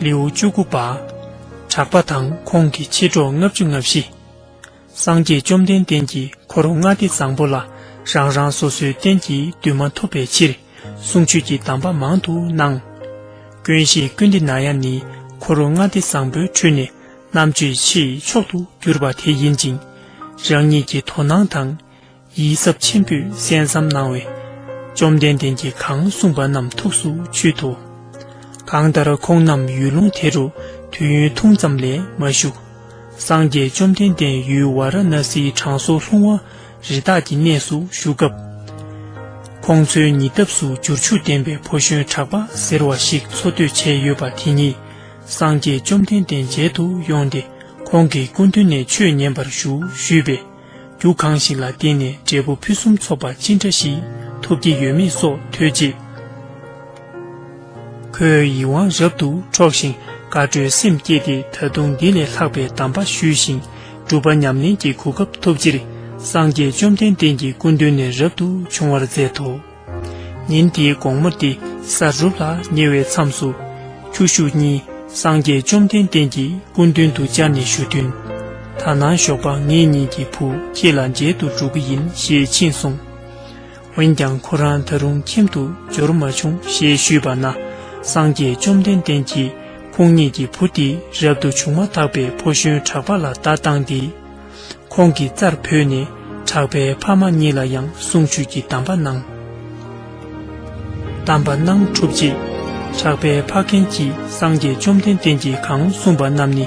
ལེའུ་བཅུ་དགུ་པ། གྲགས་པ་དང་ཁོང་གི་མཆེད་གྲོགས་ལྔ་བཅུ་ལྔ་བཞི། སངས་རྒྱས་བཅོམ་ལྡན་འདས་ཀྱིས་འཁོར་ལྔ་སྡེ་བཟང་པོ་ལ་རང་རང་སོ་སོའི་རྟེན་གྱི་འདུན་མ་ཐོབ་པའི་ཕྱིར། གསུང་ཆོས་ཀྱི་གདམས་པ་མང་དུ་གནང། དགོན་གཞིའི་ཀུན་བདེ་ནང་ཡང་ནི་གྷོ་རུ་མངའ་སྡེ་བཟང་པོའི་ཁྲོད་ནས་རྣམ་དཔྱོད་ཆེས་མཆོག་ཏུ་གྱུར་པ་དེ་ཡིན་ཅིང། རང་ཉིད་ཀྱི་དོ་སྣང་དང། ཡིད་གཟབ་ཆེན་པོས་གསན་བསམ་གནང་བས། བཅོམ་ལྡན་འདས་ཀྱིས་གང་གསུངས་པ་རྣམས་ཐུགས་སུ་ཆུད་དོ། གང་ལྟར་ཁོང་རྣམས་ཡུལ་ལུང་དེ་རུ་དུས་ཡུན་ཐུང་ཙམ་ལས་མ་བཞུགས། སངས་རྒྱས་བཅོམ་ལྡན་འདས་ཡུལ་བ་ར་ན་སིའི་གྲང་སོ་ལྷུང་བ། རི་དྭགས་ཀྱི་གནས་སུ་བཞུགས་སྐབས། ཁོང་ཚོའི་ཉེ་འདབས་སུ་འབྱོར་ཕྱུག་ལྡན་པའི་ཕོ་གཞོན་གྲགས་པ་ཟེར་བ་ཞིག་འཚོ་སྡོད་བྱས་ཡོད་པ་དེ་ཉིད་སངས་རྒྱས་བཅོམ་ལྡན་འདས་མཇལ་དུ་ཡོང་སྟེ་ཁོང་གི་སྐུ་མདུན་ནས་ཆོས་ཉན་པར་ཞུ་ཞུས་པས། རྒྱུ་གང་ཞིག་ལ་བརྟེན་ནས་འབྲས་བུ་ཕུན་སུམ་ཚོགས་པ་ཅི་འདྲ་ཞིག་ཐོབ་ཀྱི་ཡོད་མེད་སོགས་ཐོས་རྗེས། ཁོའི་ཡིད་དབང་རབ་ཏུ་འཕྲོག་ཤིང་དགའ་སྤྲོའི་སེམས་བསྐྱེད་དེ་ད་དུང་འདི་ལས་ལྷག་པའི་གདམས་པ་ཞུས་ཤིང་སྒྲུབ་པ་ཉམས་ལེན་གྱི་གོ་སྐབས་ཐོབ་ཕྱིར་སངས་རྒྱས་བཅོམ་ལྡན་འདས་ཀྱི་སྐུ་མདུན་ནས་རབ་ཏུ་བྱུང་བར་མཛད་དོ། ཉིན་དེའི་དགོང་མོ་སྟེ་ས་རུབ་ལ་ཉེ་བའི་མཚམས་སུ། ཁྱོ་ཤུག་གཉིས་སངས་རྒྱས་བཅོམ་ལྡན་འདས་ཀྱི་སྐུ་མདུན་དུ་བཅར་ནས་ཞུ་དོན། ད་ནངས་ཞོགས་པ་ངེད་གཉིས་ཀྱི་བུ་ཁྱེད་ལ་མཇལ་དུ་འགྲོ་གི་ཡིན་ཞེས་ཕྱིན་སོང། འོན་ཀྱང་ཁོ་རང་ད་རུང་ཁྱིམ་དུ་འབྱོར་མ་བྱུང་ཞེས་ཞུས་པ་ན་སངས་རྒྱས་བཅོམ་ལྡན་འདས་ཀྱིས་ཁོང་ཉིད་ཀྱི་བུ་དེ་རབ་ཏུ་བྱུང་མ་ཐག་པའི་ཕོ་གཞོན་གྲགས་པ་ལ་བརྡ་བཏང་སྟེ། ཁོང་གི་རྩར་བོས་ནས་གྲགས་པའི་ཕ་མ་གཉིས་ལ་ཡང་གསུང་ཆོས་ཀྱི་གདམས་པ་གནང། གདམས་པ་གནང་གྲུབ་རྗེས་གྲགས་པའི་ཕ་རྒན་གྱིས་སངས་རྒྱས་བཅོམ་ལྡན་འདས་ཀྱིས་གང་གསུངས་པ་རྣམས་ནི་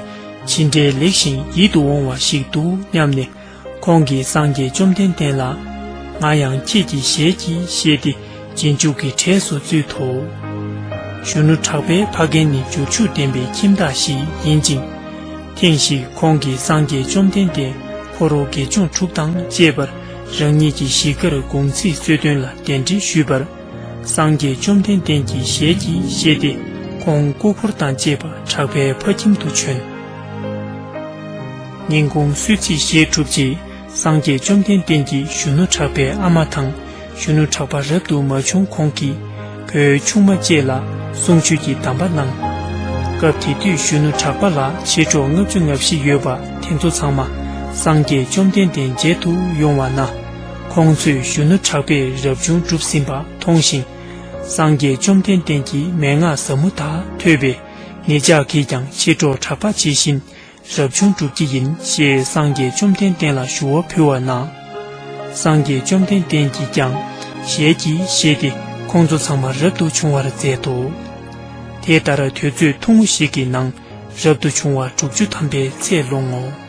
ཇི་འདྲའི་ལེགས་ཤིང་ཡིད་དུ་འོང་བ་ཞིག་འདུག་སྙམ་ནས། ཁོང་གིས་སངས་རྒྱས་བཅོམ་ལྡན་འདས་ལ། ང་ཡང་ཁྱེད་ཀྱི་ཞལ་གྱིས་བཞེས་ཏེ་རྗེས་འཇུག་གི་གྲས་སུ་བཙུད་དོ། གཞོན་ནུ་གྲགས་པས་ཕ་རྒན་ནི་འབྱོར་ཕྱུག་ལྡན་པའི་ཁྱིམ་བདག་ཞིག་ཡིན་ཅིང། ཐེངས་ཤིག་ཁོང་གིས་སངས་རྒྱས་བཅོམ་ལྡན་འདས་ཁོ་རོ་དགེ་སྦྱོང་དྲུག་དང་བཅས་པར་རང་ཉིད་ཀྱི་གཞིས་ཀར་དགོང་ཚིགས་གསོལ་སྟོན་ལ་གདན་འདྲེན་ཞུས་པར། སངས་རྒྱས་བཅོམ་ལྡན་འདས་ཀྱིས་ཞལ་གྱིས་བཞེས་ཏེ་ཁོང་སྐུ་འཁོར་དང་བཅས་པ་གྲགས་པའི་ཕ་ཁྱིམ་དུ་བྱོན། སྙིང་ཁུངས་སུས་ཅི་བཞེས་གྲུབ་རྗེས་སངས་རྒྱས་བཅོམ་ལྡན་འདས་ཀྱིས་གཞོན་ནུ་གྲགས་པའི་ཨ་མ་དང་གཞོན་ནུ་གྲགས་པ་རབ་ཏུ་མ་བྱུང་གོང་གི་བུའི་ཆུང་མ་བཅས་ལ་གསུང་ཆོས་ཀྱི་གདམས་པ་གནང། སྐབས་དེ་དུས་གཞོན་ནུ་གྲགས་པ་ལ་མཆེད་གྲོགས་ལྔ་བཅུ་ང་བཞི་ཡོད་པ་དེ་ཚོ་ཚང་མ་སངས་རྒྱས་བཅོམ་ལྡན་འདས་མཇལ་དུ་ཡོང་བ་ན། ཁོང་ཚོས་གཞོན་ནུ་གྲགས་པས་རབ་བྱུང་བསྒྲུབས་ཟིན་པ་མཐོང་ཞིང། སངས་རྒྱས་བཅོམ་ལྡན་འདས་ཀྱི་མན་ངག་ཟབ་མོ་དག་ཐོས་པས་ངེད་ཅག་གིས་ཀྱང་མཆེད་གྲོགས་གྲགས་པ་ཇི་བཞིན་རབ་བྱུང་བསྒྲུབ་ཀྱི་ཡིན་ཞེས་སངས་རྒྱས་བཅོམ་ལྡན་བསྟན་ལ་ཞུ་བ་ཕུལ་བ་ན། སངས་རྒྱས་བཅོམ་ལྡན་བསྟན་གྱིས་ཀྱང་ཞལ་གྱིས་བཞེས་ཏེ་ཁོང་ཚོ་ཚང་མ་རབ་ཏུ་བྱུང་བར་མཛད་དོ། དེ་ལྟར་དུས་ཚོད་ཐུང་ངུ་ཞིག་གི་ནང་རབ་ཏུ་བྱུང་བ་དྲུག་ཅུ་ཐམ་པའི་ཚད་ལོང་ངོ།